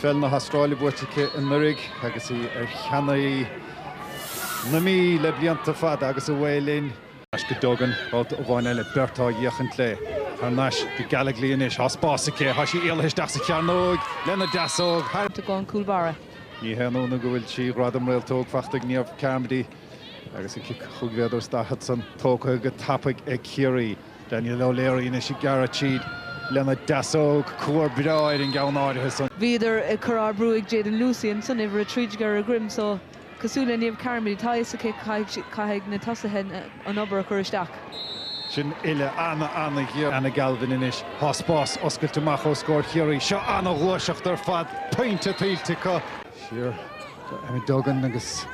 Peil na hAstráile buaite aici anuraidh agus í ar cheannairí na Mí le blianta fada agus Away linn. Ar ais go Duggan, babhta amháin eile, beirt á fhéachaint léi. Thar n-ais go Gallogly anois. Tá spás aici. Tá sí éalaithe isteach sa chearnóg lena deasóg thar. Tugadh an cúl báire. Ní haon ionadh go bhfuil trí ghradam Réaltóg fachta ag Niamh Carmody agus a cic chúig mhéadar is daichead san tógtha go tapaidh ag Ciarraí. Danielle O'Leary anois ag gearradh tríd lena deasóg, cuar breá ar an gceann áirithe san. Bhíodar ag cur ardbhrú ag Jadyn Lucey ansan uimhir a trí déag ar a droim so. Cosúil le Niamh Carmody, tá a fhios aici caithfidh na tosaithe an obair a chur isteach. Sin uile ana-ana-ghéar. Anna Galvin anois. Tá spás oscailte amach os comhair Chiarraí. Seo ana-ghluaiseacht ar fad. Pointe tuillte acu. Siar go Emma Duggan agus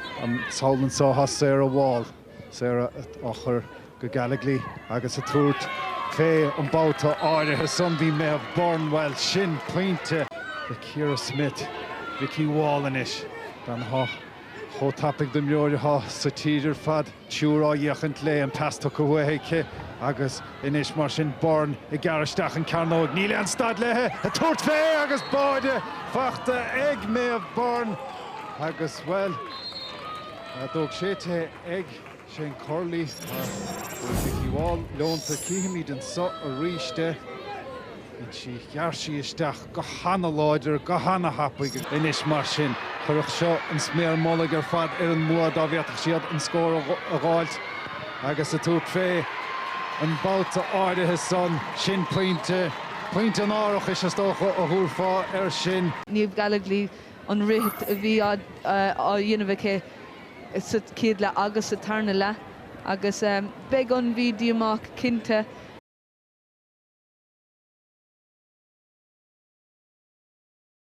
sall anso, thá Sarah Wall. Sarah á chur go Gallogly agus a tabhairt fé an babhta áirithe san, bhí Méabh Byrne, bhuel, sin pointe le Ciara Smyth, Vikki Wall anois, bean athá chomh tapaidh d'imreoir athá sa tír ar fad, triúr á fhéachaint léi, an pas tugtha uaithi aici agus anois mar sin Byrne ag gearradh isteach an cearnóig, níl aon stad léi a tabhairt fé agus báide fachta ag Méabh Byrne agus, bhuel, D'fhág sé te ag Shane Curley. Tá Vikki Wall leonta. Cífimid anso aríst é. Bhain sí ghearr sí isteach go h-ana láidir, go h-ana thapaidh. Anois mar sin, chuirfeadh seo an sméar mullaigh ar fad ar an mbua dá bhféadfadh siad an scór a dh'fháilt agus a tabhairt fé an babhta áirithe san. Sin pointe, pointe an árachais is dócha a thabharfá air sin. Niamh Gallogly, an rith a bhí á dhéanamh aici sa chéad leath agus sa tarna leath agus beidh an Mhí díomách cinnte.